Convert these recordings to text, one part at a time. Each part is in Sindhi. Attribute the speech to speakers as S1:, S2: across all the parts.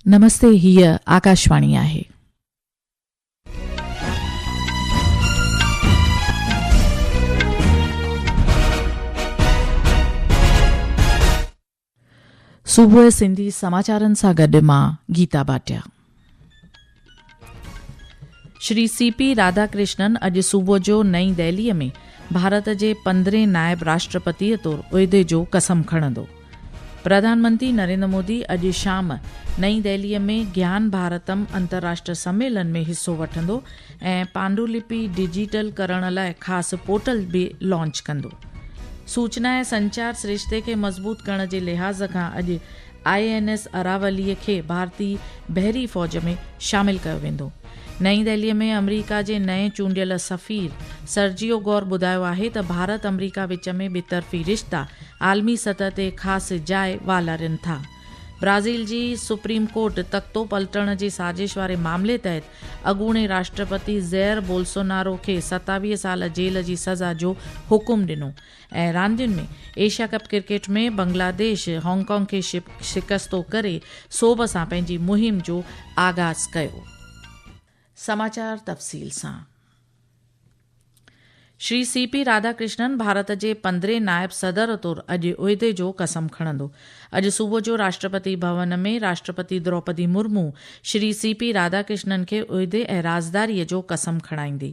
S1: نمستي هيء آڪاشواڻي آهي. صبح سنڌي سماچارن سان گڏ مان Geeta Bhatia. Shri C P Radhakrishnan اڄ صبح جو نئين دهلي ۾ ڀارت جي پندرهين نائب راشٽرپتي طور عهدي جو قسم کڻندو پرڌان منتري نريندر مودي اڄ شام نئين دهلي ۾ گيان ڀارتم انترراشٽر سميلن ۾ حصو وٺندو ۽ پانڊولپي ڊيجيٽل ڪرڻ لاء خاص پورٽل به لانچ ڪندو سوچنا ۽ سنچار سرشتي کي مضبوط ڪرڻ جي لحاظ کان اڄ آء اين ايس اراوليء کي ڀارتي بحري فوج ۾ شامل ڪيو ويندو. نئين دهلي ۾ آمريڪا جي نئين چونڊيل سفير سرجيو گور ٻڌايو آهي ته ڀارت آمريڪا وچ ۾ ٻطرفي رشتا عالمي سطح تي خاص جاء والارين ٿا. برازيل جي سپريم ڪورٽ تختو پلٽڻ جي سازش واري معاملي تحت اڳوڻي راشٽرپتي زئر بولسونارو کي ستاويهه سال جيل جي سزا جو حڪم ڏنو. ۽ راندين ۾ Asia cup cricket ۾ Bangladesh Hong Kong کي شڪستو ڪري سوڀ سان پنهنجي مهم جو آغاز ڪيو. سماچار تفصيل سان. Shri C P Radhakrishnan Bharat جي پندرهين نائب صدر طور اڄ عهدي جو قسم کڻندو. اڄ صبح جو راشٽرپتي ڀون ۾ راشٽرپتي Droupadi Murmu Shri C P Radhakrishnan کي عهدي ۽ رازداري جو قسم کڻائيندي.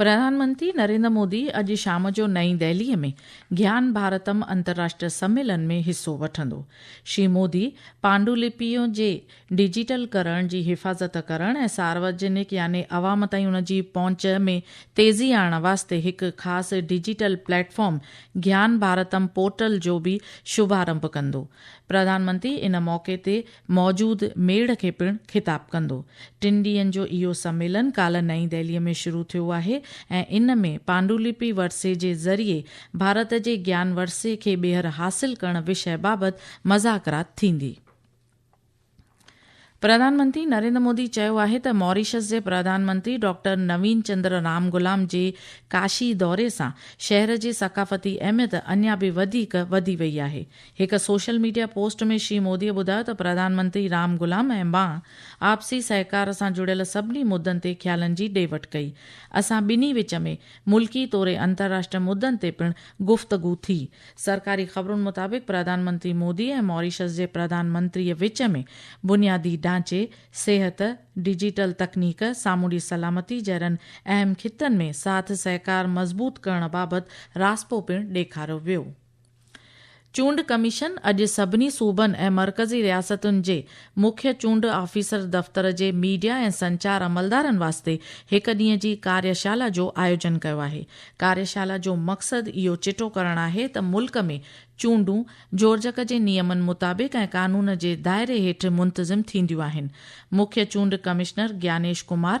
S2: پرڌان
S1: منتري نريندر مودي اڄ شام جو نئين دهلي ۾ گيان ڀارتم انترراشٽري سميلن ۾ حصو وٺندو. شري مودي پانڊولپيون جي ڊجيٽل ڪرڻ جي حفاظت ڪرڻ ۽ سارواجنڪ يعني عوام تائين ان جي پهچ ۾ تيزي آڻڻ واسطي هڪ خاص digital platform Gyan Bharatam portal جو به شڀارمڀ ڪندو. پرڌان منتري ان موقعي تي موجود ميڙ کي پڻ خطاب ڪندو. ٽن ڏينهن جو اهو سميلن ڪالهه نئين دهليء ۾ شروع ٿيو آهي ۽ ان ۾ پانڊولپي ورثي جي ذريعي ڀارت جي گيان ورثي کي ٻيهر حاصل ڪرڻ وشيه بابت مذاڪرات ٿيندي. پرڌان منتري نريندر مودي چيو آهي ته موريشس جي پرڌان منتري ڊاڪٽر نوين چندر رام گلام جي ڪاشي دوري سان شهر جي ثقافتي اهميت اڃا به وڌيڪ وڌي وئي آهي. هڪ social media post ۾ Shri Modi ٻڌايو ته پرڌان منتري رام غلام ۽ مان آپسي سهڪار سان جڙيل سڀني مدن تي خيالن جي ڏي وٺ ڪئي. اسان ٻنهي وچ ۾ ملڪي توڙي انترراشٽري مدن تي پڻ گفتگو ٿي. سرڪاري خبرن مطابق پرڌان منتري مودي ۽ ماريشس جي پرڌان منتري وچ ۾ بنيادي ڍانچي، صحت، ڊجيٽل تڪنيڪ، سامونڊي سلامتي جهڙن اهم خطن ۾ ساٿ سهڪار مضبوط ڪرڻ بابت راضپو پڻ ڏيکاريو ويو. چونڊ ڪميشن اڄ سڀني صوبن ۽ مرڪزي رياستن جي مکيه چونڊ آفيسر دفتر جي ميڊيا ۽ سنچار عملدارن واسطي هڪ ڏينهن جي ڪاريشالا جو آيوجن ڪيو آهي. ڪاريشالا جو مقصد اهو چٽو ڪرڻ آهي ته ملڪ ۾ چونڊون جورجڪ جي نيمن مطابق ۽ قانون جي دائري هيٺ منتظم ٿينديون آهن. مکيه چونڊ ڪمشنر گيانيش ڪمار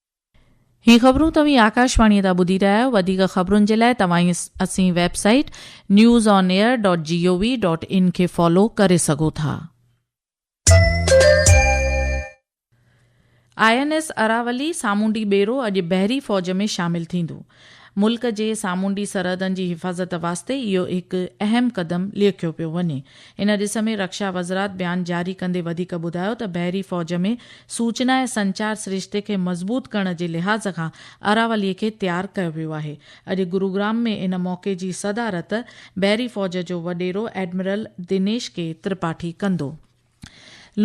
S3: هي
S1: خبرون توهين آڪاشواڻي تان ٻڌي رهيا آهيو وڌيڪ خبرن جي لاء توهان اسين website news on air dot G O V dot in کي فالو ڪري سگهو ٿا. آء اين ايس اراولي سامونڊي ٻيڙو اڄ بحري فوج ۾ شامل ٿيندو. ملڪ جي سامونڊي سرحدن جي حفاظت واسطي اهو هڪ اهم قدم ليکيو پيو وڃي. ان ڏس ۾ رڪشا وزرات بيان جاري ڪندي وڌيڪ ٻڌايو ته بحري فوج ۾ سوچنا ۽ سنچار سرشتي کي مضبوط ڪرڻ جي لحاظ کان اراولي کي تيار ڪيو ويو آهي. اڄ گروگرام ۾ ان موقعي جي صدارت بحري فوج جو وڏيرو ايڊمرل دنيش ڪي ترپاٺي ڪندو.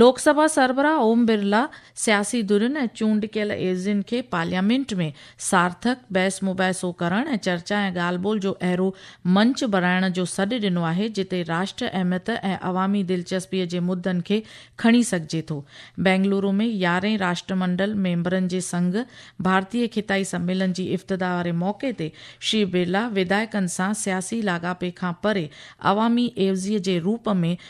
S1: لوڪ سڀا سربراهه اوم برلا سياسي ڌرين ۽ چونڊڪيل ايزين کي پارليامينٽ ۾ سارٿڪ بحث مباحثو ڪرڻ ۽ چرچا ۽ ڳالهه ٻولهه جو اهڙو منچ بڻائڻ جو سڏ ڏنو آهي جتي راشٽر اهميت ۽ عوامي دلچسپي جي مدن کي کڻي سگهجي ٿو. بينگلورو ۾ يارهين راشٽرمنڊل ميمبرن جي سنگهه ڀارتي خطائي سميلن جي افتتاح واري موقعي تي شري برلا وڌايڪن سان سياسي لاڳاپي کان پري عوامي عيوضي جي روپ ۾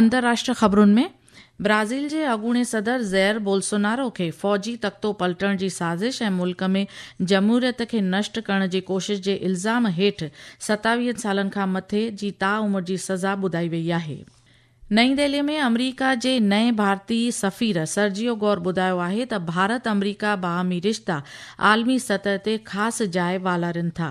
S1: اندرراشٽري خبرون ۾ برازيل جي اڳوڻي صدر زير بولسونارو کي فوجي تختو پلٽڻ جي سازش ۽ ملڪ ۾ جمهوريت کي نشٽ ڪرڻ جي ڪوشش جي الزام هيٺ ستاويهن سالن کان مٿي جي تا عمر جي سزا ٻڌائي وئي آهي. نئين دهلي ۾ آمريڪا جي نئين ڀارتي سفير سرجيو گور ٻڌايو آهي ته ڀارت آمريڪا باهمي رشتا عالمي سطح تي خاص جاء والارين ٿا.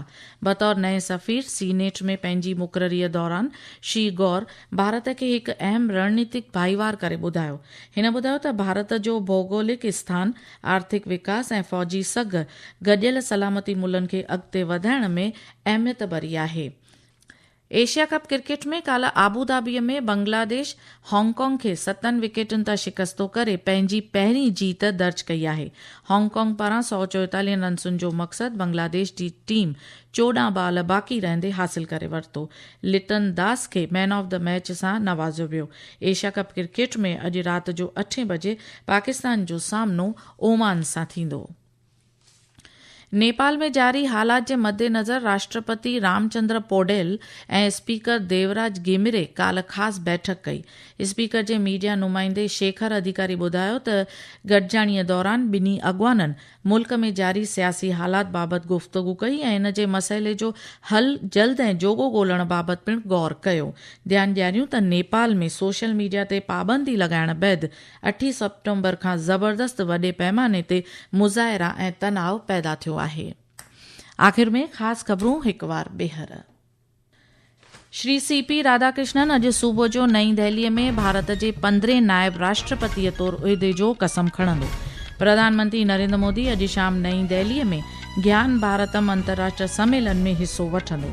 S1: بطور نئين سفير سينيٽ ۾ پنهنجي مقرريء دوران شي گور ڀارت کي هڪ اهم رڻنيتڪ ڀائيوار ڪري ٻڌايو. هن ٻڌايو ته ڀارت جو ڀوڳولڪ اسٿان، آرٿڪ وڪاس ۽ فوجي سگهه گڏيل سلامتي ملن کي اڳتي وڌائڻ ۾ اهميت ڀري آهي. ايشيا ڪپ ڪرڪيٽ ۾ ڪالهه آبوڌابيء ۾ بنگلاديش هانگ ڪانگ کي ستن وڪيٽن تان شڪستو ڪري پنهنجي پهرين جيت درج ڪئي آهي. هانگ ڪانگ پاران سؤ چوئيتاليهن رنسن جو مقصد بنگلاديش جي ٽيم چوڏهن بال باقي رهندي حاصل ڪري ورتو. لٽن داس کي مين آف دي ميچ سان نوازيو ويو. ايشيا ڪپ ڪرڪيٽ ۾ اڄ رات جو اٺين بجي پاڪستان جو سامنو اومان سان ٿيندو. نيپال ۾ جاري حالات جي مدنظر راشٽرپتي رام چندر پوڊيل ۽ اسپيڪر ديوراج گيمري ڪالهه خاص بيٺڪ ڪئي اسپيڪر جي ميڊيا نمائندي شيکر اڌيڪاري ٻڌايو ته گڏجاڻي دوران ٻنهي اڳواڻن ملڪ ۾ جاري سياسي حالات بابت گفتگو ڪئي ۽ ان جي مسئلي جو حل جلد ۽ جوڳو ڳولڻ بابت پڻ غور ڪيو ڌيان ڏياريون ته نيپال ۾ سوشل ميڊيا تي پابندي لڳائڻ بعد اٺين سيپٽمبر کان زبردست وڏي پئماني تي مظاهرا ۽ تناء پيدا ٿيو آهي. آخر ۾ خاص خبرون هڪ وار ٻيهر. شري سي پي راڌاڪرشنن اڄ صبح جو نئين دهلي ۾ ڀارت جي پندرهين نائب راشٽرپتيء طور عهدي جو قسم کڻندو. پرڌان منتري نريندر مودي اڄ شام نئين دهلي ۾ گيان ڀارتم انترراشٽري سميلن ۾ حصو وٺندو.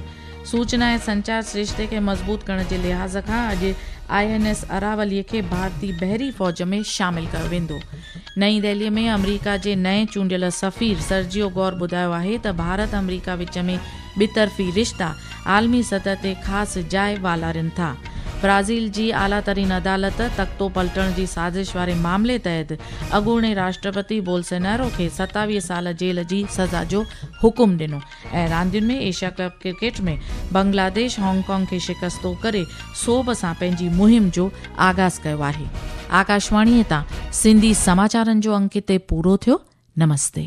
S1: سوچنا ۽ سنچار سرشتي کي مضبوط ڪرڻ جي لحاظ کان اڄ آء اين ايس اراولي کي ڀارتي بحري فوج ۾ شامل ڪيو ويندو. نئين دهلي ۾ آمريڪا جي نئين چونڊيل سفير سرجيو گور ٻڌايو آهي ته ڀارت آمريڪا وچ ۾ ٻطرفي رشتا عالمي سطح تي خاص جاء والارين ٿا. برازيل جي اعليٰ ترين عدالت تختو پلٽڻ جي سازش واري معاملي تحت اڳوڻي راشٽرپتي بولسينارو کي ستاويهه سال جيل جي سزا جو حڪم ڏنو. ۽ راندين ۾ Asia cup cricket ۾ Bangladesh Hong Kong کي شڪستو ڪري سوڀ سان پنهنجي مهم جو آغاز ڪيو آهي. آڪاشواڻي تان سنڌي سماچارن جو انڪ هتي پورو ٿيو. نمستي.